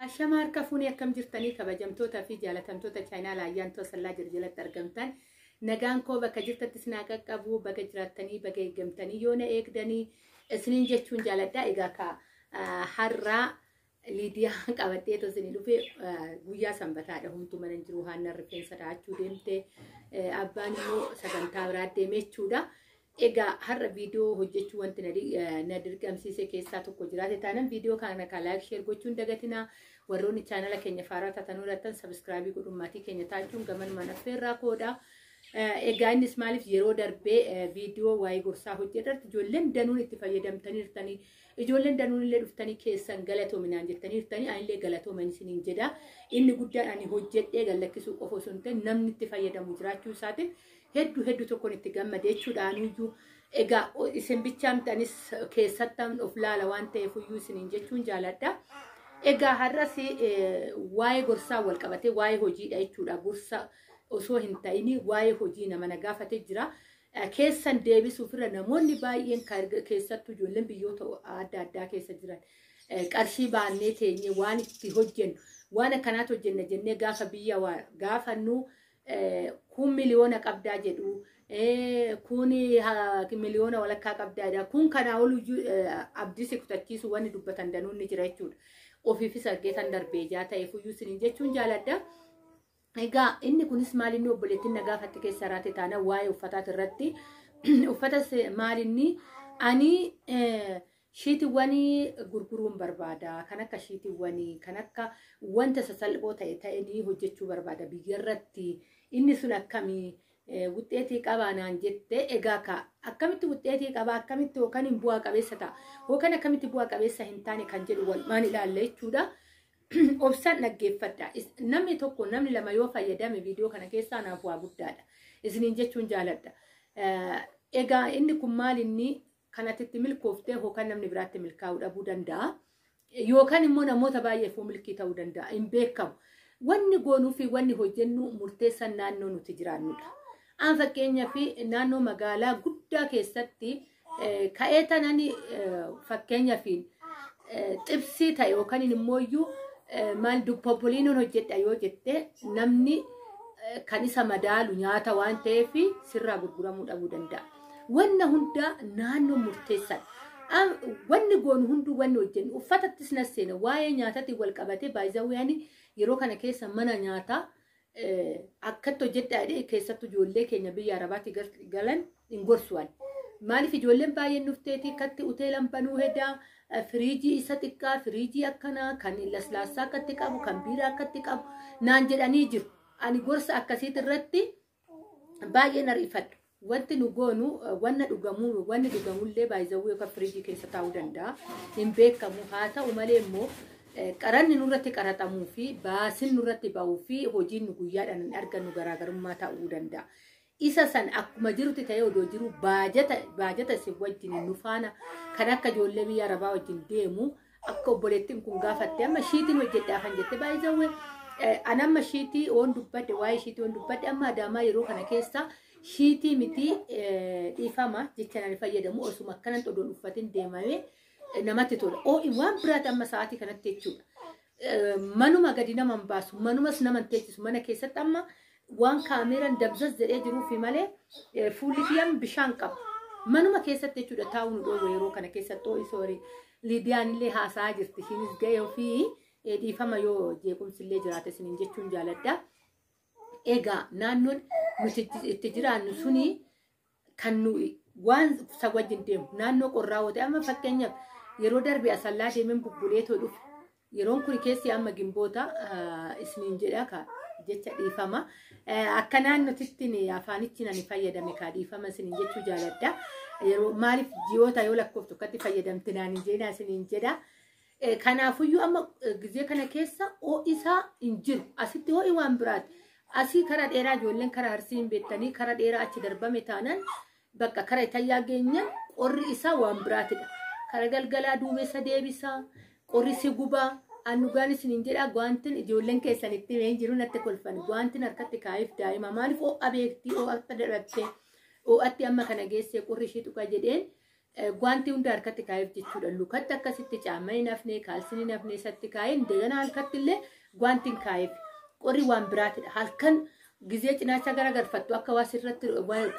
Ashama harka fuunee akkam jirtanii kabajamtoota fi jaalatamtoota chaayinaala ayyaan toosallaa jiru jalatti argamtan nagaan koo bakka jirtatti isinaa qaqqabu baga jiraattanii baga eegamtanii yoo na eegdanii isiniin jechuun jaaladhaa egaa ka har'aa liidiyaa qabattee too isinii dhufe guyyaa sanbataadha hunduu mana hin jiru haannan rifeensa dhahachuu deemte abbaan immoo sagantaa biraa deemee jechuudha. Egaa har'a viidiyoo hojjechuu wanti na di- eh, na dirqamsiise keessaa tokko jiraate taanan viidiyoo kana kan laayik sheer gochuun dagatinaa warroonni chaanala keenya faaraa taatan hojjetan sabiskiraabii godhuun maatii keenya taachuun gamanumaan affeerraa koodha. Eh, Egaa innis maaliif yeroo darbee eh, viidiyoo waa'ee gorsaa hojjetarratti ijoolleen danuun itti fayyadamtaniirtanii ijoolleen danuun illee dhuftanii keessan galatoominaan jettaniirtanii anillee galatooman isiniin jedha. Inni guddaan ani hojjedhee gallakkisuu qofa osoo hin ta'in namni itti fayyadamu jiraachuu isaatiin heddu heddu tokkon itti gammade jechuudhaanuyyuu egaa o- isin bichaa miti anis keessattan of laala waan ta'eef iyyuu isiniin jechuun jaaladha. Egaa har'as eh, waa'ee gorsaa wal qabatee waa'ee hojiidha jechuudha gorsa osoo hin ta'in waa'ee hojii nama na gaafate jira. Eh, Keessan deebisuuf irra namoonni baay'een kan erga- keessattuu ijoolleen biyyoota adda addaa keessa jiran eh, qarshii baannee teenye waan itti hojjennu waan akkanaatu hojjenna jennee gaafa biyya waa gaafannu eh, kun miliyoona qabdaa jedhu eh, kun ha- miliyoona walakkaa qabdaa jedha kun kanaa ol iyyuu, eh, abdii si kutachiisu wanni dubbatan danuun ni jira jechuudha ofiifis argee tan darbee ijaa ta'eef iyyuu isiniin jechuun jaaladha. Egaa inni kunis maal inni obboleettiin na gaafatte keessa irratti taana waa'ee uffataati irratti uffata se- maal inni ani eh, Shiitiwwanii gurguruun barbaada. Kan akka shiitiwwanii, kan akka wanta sasalphoo ta'e ta'inii hojjechuu barbaada biyyarratti. Inni sun akkamii wuxxeetii qabaa naan jette egaa ka akkamitti wuxxeetii qabaa akkamitti yookaan hin bu'aa qabeessa ta'a yookaan akkamitti bu'aa qabeessa hin taane kan jedhu walumaan ilaalla jechuudha. Obsaan dhaggeeffadha. Namni tokko namni lama yoo fayyadame viidiyoo kana keessaa naaf waa guddaadha. Isiniin jechuun jaaladha. Egaa inni kun maal inni Kan ati itti milkooftee yookaan namni biraatti milkaa'uu dhabuu danda'a. Yookaan immoo namoota baay'eef milkii ta'uu danda'a. Hin beekamu. Wanni goonuu fi wanni hojjennu murteessan naannoo nuti jiraannudha. Aan fakkeenyaaf naannoo magaalaa guddaa keessatti ka'ee tanan fakkeenyaaf xibsii ta'e yookaan immoo iyyuu maal duppopoliinoon hojjedha yoo jette namni kan isa madaalu nyaata waan ta'eef sirraa gurguramuu dhabuu danda'a. Wanna hundaa naannoo murteessan. Wanni goonu hunduu wanni hojjennu uffatattis na seena waa'ee nyaatatiin wal qabatee baay'izawwaani yeroo kana keessa mana nyaataa akkatti hojjedhaa jedhee keessattuu ijoollee keenya biyya arabaatti galan hin gorsuwan. Maaliif ijoolleen baay'een dhufteeti katti hoteelan banuu hedaa firiijii isa xiqqaa firiijii akkanaa kan laslaassaa akkatti qabu kan biiraa akkatti qabu naan jedhanii jiru. Ani gorsa akkasiit irratti baay'ee na riifadhu. Wanti nu goonu wanna dhugamuu wanni dhugamullee baay'izawuu yookaan firiijii keessa taa'uu danda'a. Hin beekamu haa ta'u malee immoo qaranni nurratti qaraxamuu fi baasin nurratti ba'uu fi hojiin nu guyyaadhaan hin argannu garaagarummaa ta'uu danda'a. Isa san akkuma jirutti ta'ee odoo jiru baajata baajata isin wajjin nu faana kan akka ijoollee biyya arabaa wajjin deemu akka obboleettiin kun gaafatte amma shiitiin hojjedhaa kan jette baay'isawwe an amma shiitii oon dubbadde waa'ee shiitii oon dubbadde amma adaamaa yeroo kana keessa shiitii miti dhiifama jecha nan fayyadamu osuma akkanan odoon uffatin deemame namatti tola oo waan biraati amma sa'aatii kanatti jechuudha manuma gadi naman baasu manumas naman teechisu mana keessatti amma Waan kaameeraan dabzaz jedhee jiruufi malee eh, fuulli kiyyaan bishaan qaba. Manuma keessatti jechuudha taa'uu nu dhoowwe yeroo kana keessatti oo'i soori. Liidiyaan illee haasa'aa jirti. Ishiinis ga'ee ofii eh, dhiifama yoo jeequmsi illee jiraate isiniin jechuun jaaladha. Egaa naannoon nuti itti- itti jiraannu suni kan nuyi waan isa wajjin deemu naannoo qorraa woote amma fakkeenyaaf yeroo darbe asallaa deemeen bubbulee too dhufe yeroon kun keessi amma gimboota ah, isniin jedha ka jecha dhiifama Eh, akka naannotittiin afaanichi nani fayyadame kaa dhiifama isiniin jechuu jaaladha yeroo maaliif ji'oota yoo lakkooftu akkatti fayyadamte naani jeenaa isiniin jedha Eh, Kanaafuyyuu amma eh, gizee kana keessa ho'i isaa hin jiru. Asitti ho'i waan biraati. Asii karaa dheeraa ijoolleen karaa harsii hin beektanii karaa dheeraa achi darbame taanaan bakka karaa itayyaa geenyaan qorri isaa waan biraatidha. Karaa galgalaa duumessa deebisaa, qorri si gubaa, aannugaan isin hin jedhaa gwaantin ijoolleen keessan itti himee hin jiru natti kolfan. Gwaantin harkatti kaa'eef daa'ima maaliif ho'a beektii ho'atta darattee ho'atti amma kana geessee qorri ishii tuqa jedheen Gwaantii hunda harkatti kaa'eef jechuudha. Lukatti akkasitti caamma hin hafne, kaalsiin hin hafne isatti kaa'ee indegana halkatti illee gwaantiin kaa'eef. Qorri waan biraatidha. Halkan gizee cinaacha gara galfattu akka waa sirratti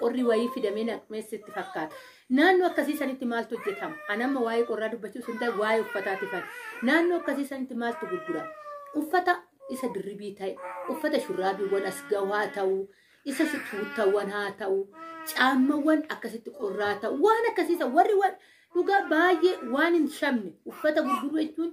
qorri wayii fidamee naqmees itti fakkaata. Naannoo akkasii sanitti maaltu hojjetama? Anamma waa'ee qorraa dubbachuu sun ta'e waa'ee uffataati fa'i. Naannoo akkasii sanitti maaltu gurgurama? Uffata isa dirribii ta'e, uffata shurraabiiwwan as gawaa ta'u, Isa si tuuttawwan haa ta'u, caammawwan akkasitti qorraa ta'u, waan akkasiisa warri waan dhugaa baay'ee waan hin shamne uffata gurguruu jechuun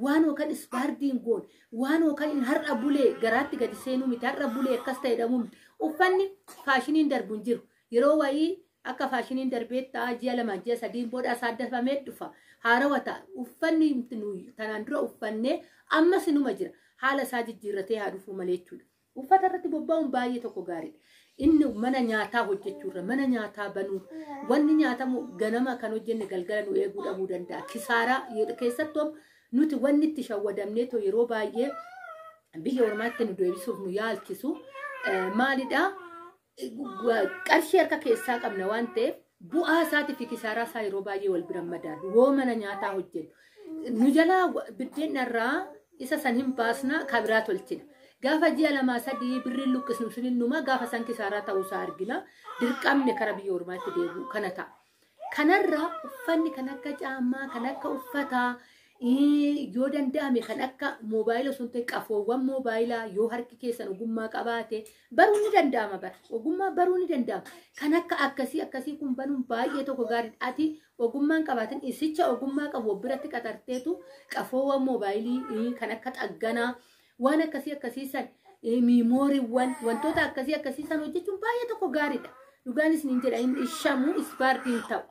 waan yookaan ispaardiin goon waan yookaan hin har'a bulee garaatti gadi seenuu miti har'a bulee akkas ta'e dhamuu miti uffanni faashiniin darbu hin jiru yeroo wayii akka faashiniin darbee ta'a ji'a lama ji'a sadiin booda isaa dafamee dhufa haarawa ta'a uffanni nuyi tanaan dura uffannee ammas inuma jira haala isaa jijjiirratee haa dhufuu malee jechuudha. Uffata irratti bobba'uun baay'ee tokko gaariidha. Inni mana nyaataa hojjechuurra, mana nyaataa banuu, wanni nyaatamu ganama kan hojjenne galgala nu eeguu dhabuu danda'a. Kisaaraa yeroo- keessattuu nuti wanni itti shawwadamnee too yeroo baay'ee biyya ormaatti nu deebisuuf nu yaalchisu eh, maalidha? qarshii harka keessaa qabna waan ta'eef bu'aa isaatii fi kisaaraa isaa yeroo baay'ee wal bira madaalu woo mana nyaataa hojjennu nu jalaa biddeen irraa isa san hin baasna kabiraa tolchina. Gaafa ji'a lamaa sadii birriin luqqisnu sun innuma gaafa san kisaaraa ta'uu isaa argina dirqamne kara biyya ormaatti deebi'u kana ta'a. Kanarraa uffanni kan akka caammaa, kan akka uffataa, ii, yoo danda'ame kan akka moobaayila osoo hin ta'in qafoowwan moobaayilaa yoo harki keessan ogummaa qabaate baruun ni danda'ama bara. Ogummaa baruun ni danda'ama. Kan akka akkasii akkasii kun banuun baay'ee tokko gaariidha. Ati ogummaa hin qabaatin isicha ogummaa qabu of biratti qaxarteetu qafoowwan moobaayilii ii, kan akka xagganaa Waan akkasii akkasii san miimooriiwwan wantoota akkasii akkasii san hojjechuun baay'ee tokko gaariidha. Dhugaan isiniin jedha hin ishamu ispaartii hin ta'u.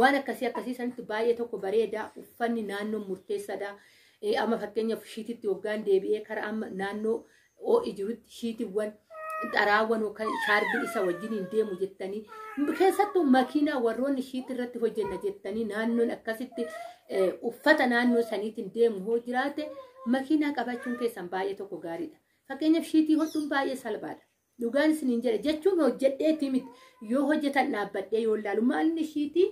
Waan akkasii akkasii sanitti baay'ee tokko bareeda uffanni naannoo murteessaadha. Amma fakkeenyaaf shiititti hoggaan deebi'ee karaa amma naannoo ho'i jirutti shiitiiwwan xaraawwan yookaan shaarbii isa wajjin hin deemu jettanii keessattuu makiinaa warroonni ishiitti irratti hojjenna jettanii naannoon akkasitti eh, uffata naannoo saniitiin deemu hoo jiraate makiinaa qabachuun keessan baay'ee tokko gaariidha. Fakkeenyaaf shiitii hodhuun baay'ee salphaadha. Dhugaan isin hin jedhe jechuun hojjedheetii miti yoo hojjetan dhaabbadhee yoo ilaalu maalni shiitii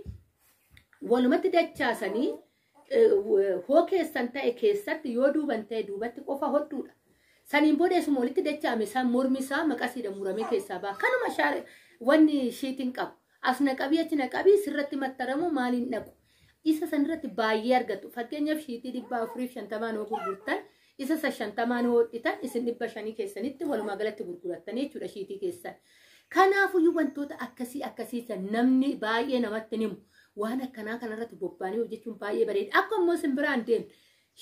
walumatti dachaasanii hoo keessan ta'e keessatti yoo duuban ta'e duubatti qofa hodhuudha. Saniin booda isuma walitti dacha'ame san mormi isaa maqasiidha muramee keessaa ba'a. Kanuma shaar wanni shiitiin qabu. As naqabii achi naqabii sirratti mattaramu maaliin dhaqu. Isa sanirratti baay'ee argatu. Fakkeenyaaf shiitii dhibba afuriif shantamaan yoo gurgurtan Isa isa shantamaan hoodhitan isin dhibba shanii keessanitti walumaa galatti gurgurattanii jechuudha shiitii keessan. Kanaafuyyuu wantoota akkasii akkasii san namni baay'ee namatti hin himu. Waan akkanaa kanarratti bobbaanii hojjechuun baay'ee bareeda. Akka immoo isin biraan deemu.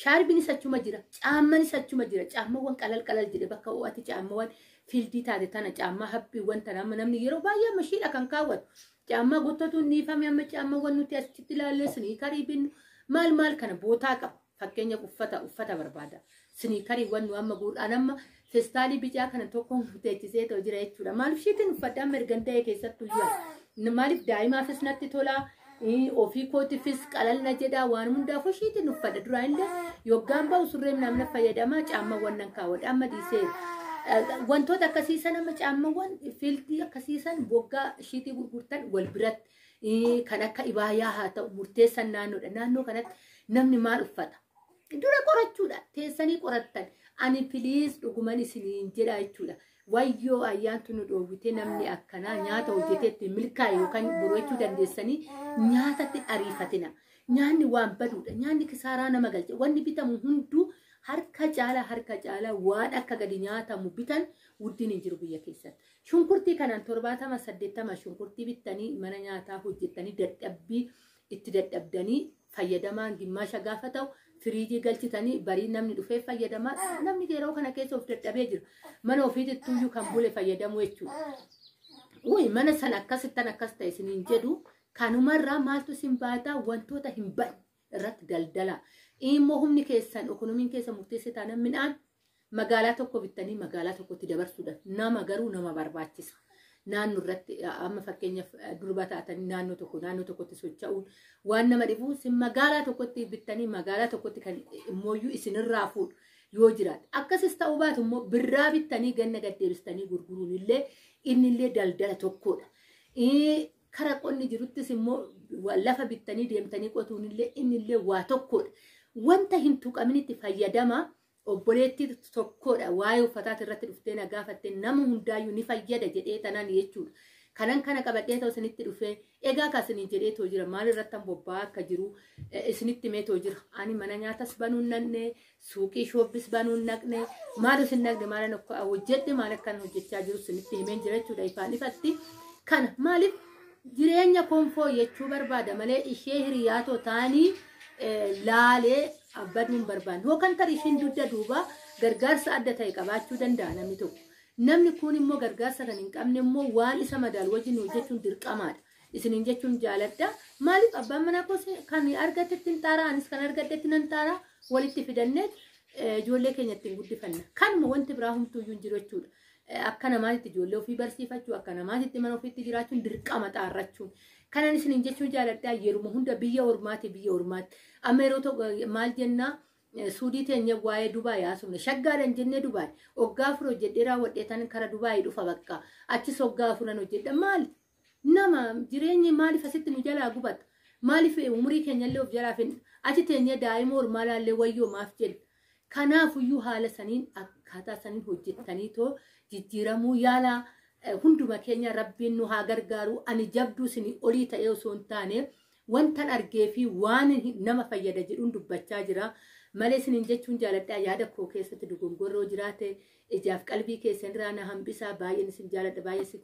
Shaarbinis achuma jira. Caammanis achuma jira. Caammawwan qalal qalal jedhe bakka ho'aatti caammawwan fiildii taate tana caammaa haphiiwwan tana amma namni yeroo baay'ee amma shiidha kan kaawwatu. Caammaa gottatu hin dhiifame amma caammawwan nuti asitti ilaallee siniikarii binnu maal maal kana bootaa qaba. Fakkeenyaaf uffata uffata barbaada. Siniikariiwwan nu amma guur'aan amma festaalii bicaa kana tokko teechisee too jira jechuudha. Maaliif ishiitiin uffadha amma ergan ta'e keessattuu jira. Maaliif daa'imaafis natti tola. ii, Ofii kootiifis qalalna jedha waan hundaafuu ishiitiin uffadha. Duraa illee yoggaan ba'u surree namna fayyadama caammaawwan nan kaawwadha amma dhiisee. Wantoota akkasii san amma caammaawwan fiiltii akkasii san waggaa ishiitii gurgurtan wal biratti. Ii, kan akka ibaayaa haa ta'u murteessan naannoodha. Naannoo kanatti namni maal uffata? Dura qorachuudha. Teessanii qorattan. Ani piliis dhuguman isiniin jedha jechuudha. Wayyoo ayyaantu nu dhoowwite namni akkanaa nyaata hojjeteetti milkaa'e yookaan boroo jechuu dandeessanii nyaatatti ariifatina. Nyaanni waan baduudha. Nyaanni kisaaraa nama galcha. Wanni bitamu hunduu harka caala harka caala waan akka gadi nyaatamu bitan wuddiin hin jiru biyya keessatti. Shunkurtii kanaan 70 80 shunkurtii bittanii mana nyaataa hojjettanii dadhabbii itti dadhabdanii fayyadamaan gimmaasha gaafa ta'u firiijii galchitanii barii namni dhufee fayyadamaa namni yeroo kana keessa of dadhabee jira mana ofiitittuu iyyuu kan bule fayyadamuu jechuudha. Uuyi mana sana akkasittan akkas ta'e isiniin jedhu kanumarraa maaltu isin baataa wantoota hin badne irratti daldala immoo humni keessan ekonomiin keessa murteessee taana midhaan magaalaa tokko bittanii magaalaa tokkotti dabarsuudha nama garuu nama barbaachisa naannoo irratti amma fakkeenyaaf durba taatanii naannoo tokko naannoo tokkotti socha'uun waan nama dhibu isin magaalaa tokkotti bittanii magaalaa tokkotti kan immooyyuu isinirraa fuudhu yoo jiraate akkasis ta'uu baatu immoo birraa bittanii ganna gaddeebistanii gurguruun illee inni illee daldala tokkodha. Kara qonni jiruttis immoo lafa bittanii deemtanii qotuun illee inni illee waa tokkodha. Wanta hin tuqaminitti fayyadama obboleettii tokkodha. Waa'ee uffataati irratti dhuftee na gaafatte nama hundaayyuu ni fayyada jedhee tanaan jechuudha. Kanan kana qabadhee ta'u isinitti dhufee egaa akka isiniin jedhee ta'u jira maal irratti bobba'aa akka jiru isinitti mee ta'u jira. Ani mana nyaatas banuun nannee suuqii shooppis banuun naqne maalus hin naqne maala nokka hojjedhe maal akkan hojjechaa jiru sinitti himeen jira jechuudha ifaan ifatti kana maaliif jireenya koon fooyyachuu barbaada malee ishee hiriyaa too taanii laalee abbaduun barbaanne yookaan tarii ishiin dugda duuba gargaarsa adda ta'e qabaachuu danda'a namni tokko namni kun immoo gargaarsa kan hin qabne immoo waan isa madaalu wajjin hojjechuun dirqamaadha. isiniin jechuun jaaladha. Maaliif abbaan manaa koos kan argatetti hin xaaraa anis kan argatetti nan xaaraa walitti fidannee eh, ijoollee keenya ittiin guddifanna. Kanuma wanti biraa humtuuyyuu hin jiru jechuudha. Eh, Akka namaatitti ijoollee ofii barsiifachuu, akka namaatitti mana ofiitti jiraachuun dirqama xaarrachuun. Kanan isiniin jechuun jaaladhaa yeruma hunda biyya ormaati biyya ormaatti. Amma yeroo tokko eh, maal jennaa eh, suudii teenya waa'ee Dubaay haasofne shaggaadhan jennee Dubaay hoggaa afur hojjedhee raawwadhee tan kara Dubaay dhufa bakka achis hoggaa afuran hojjedha maali? Nama jireenyi maaliif asitti nu jalaa gubata? Maaliif umurii keenyallee of jalaa finna? Achi teenyee daa'ima ormaa laallee wayyoo maaf jenna? Kanaafuyyuu haala saniin akkaataa saniin hojjettanii too jijjiiramuu yaalaa eh, hunduma keenya rabbiin nu haa gargaaru ani jabduu isinii olii ta'ee osoo hin taane wantan argee fi waan hin- nama fayyada jedhuun dubbachaa jira malee isiniin jechuun jaaladhaa yaada koo keessatti dogongorroo jiraate ijaaf qalbii keessan irraa na hambisaa baay'een isin jaaladha baay'ee isin